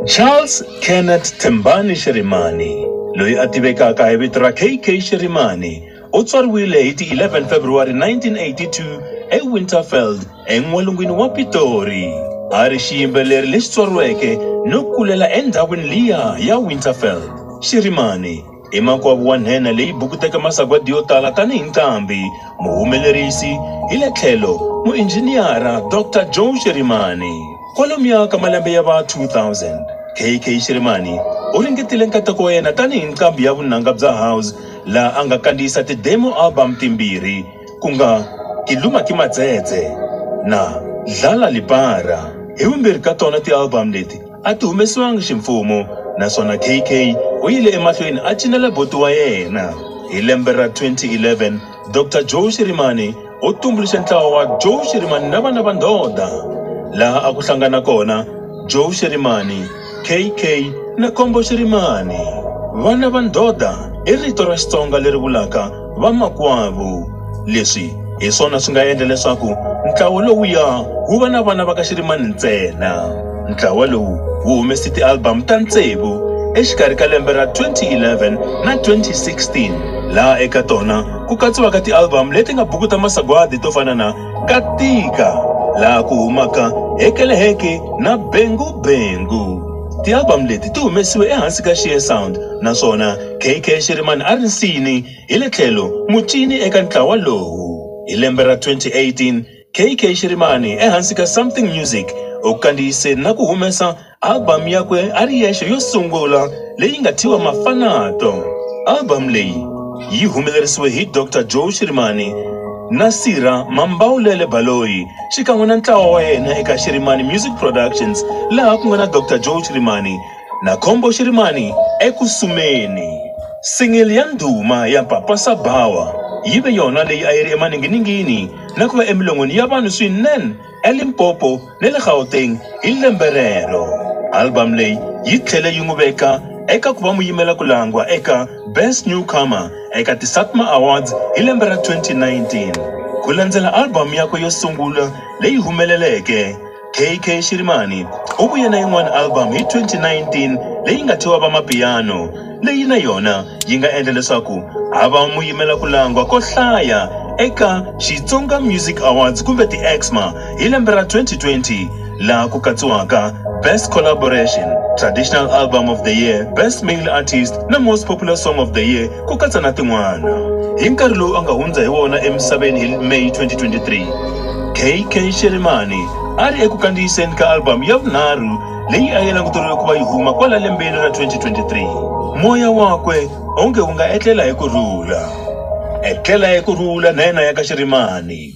Charles Kenneth Thembani Shirimani, loyi a tivekaka hi vito ra KK Shirimani, u tswariwile hi ti 11 February 1982 eWinterveld, en'walungwini wa Pitori. A ri xiyimbeleri lexi tswariweke no kulela endhawini liya ya Winterveld. Shirimani. I makwavo wa nhenha leyi bukuteke masagwadi yo tala tanihi nqambi, muhumelerisi, hi le tlhelo muinjhiniyara, Doctor Joe Shirimani. Kwalomuya ka malembe ya va 2000, KK Shirimani u ringetile nkateko wa yena tanihi nqambi ya vunanga bya house laha a nga kandziyisa ti-demo album timbirhi ku nga Ke Luma Ke Matsetse na Dlala Lipara. Hi vumbirhi ka tona ti-album leti, a ti humesiwangi ximfumo naswona KK u yile emahlweni a cinela buti wa yena. Hi lembe ra 2011, Dr Joe Shirimani u tumbuluxe ntlawa wa Joe Shirimani na vana va ndhodha, laha a ku hlangana kona Joe Shirimani, KK na Kombo Shirimani. Vana va ndhodha i rito ra Xitsonga leri vulaka Vamakwavo, leswi hi swona swi nga endla leswaku ntlawa lowuya wu va na vana va ka Xirimani ntsena. Ntlawa lowu wu humese ti-album ta tsevu exikarhi ka lembe ra 2011 na 2016 laha eka tona ku katsiwaka ti-album leti nga buku ta masagwadi to fana na Ka Tika laha ku humaka Hekele Heke na Bengu Bengu. Ti-album leti ti humesiwe ehansi ka Sheer Sound naswona KK Shirimani a ri nsini hi le tlhelo mucini eka ntlawa lowu. Hi lembe ra 2018, KK Shirimani ehansi ka Something Music u kandziyise na ku humesa album yakwe a ri yexe yo sungula leyi nga thyiwa Mafanato. Album leyi yi humelerisiwe hi Doctor Joe Shirimani na Sirha Mambawulele Baloyi xikan'we na ntlawa wa yena eka Shirimani Music Productions laha ku nga na Doctor Joe Shirimani, na Khombo Xirimani eku sumeni. Singili ya ndhuma ya Papa Sabawa yi ve yona leyi a yi ri emaninginingini na ku va emilon'wini ya vanhu swinene eLimpopo ni le Gauteng hi lembe rero. Album leyi yi tlhele yi n'wi veka eka ku va muyimela-ku-langwa eka Best Newcomer eka ti-SATMA Awards hi lembe ra 2019, ku landzela album yakwe yo sungula leyi humeleleke, KK Shirimani u vuye na yin'wana album hi 2019 leyi nga thyiwa Vamapiyano leyi na yona yi nga endla leswaku a va muyimela ku langwa ko hlaya eka Xitsonga Music Awards kumbe ti-Exma hi lembe ra 2020 laha ku katsiwaka Best Collaboration, Traditional Album of the Year, Best Male Artist na Most Popular Song of the Year ku katsa na tin'wana. Hi nkarhi lowu a nga hundza hi wona emisaveni hi May 2023, KK Shelemane a ri eku kandziyiseni ka album ya vunharhu leyi a yi languteriwe ku va yi huma kwala lembeni ra 2023. Moya wakwe onge wu nga etlela hi ku rhula. Etlela hi ku rhula na yena ya ka Shelemane.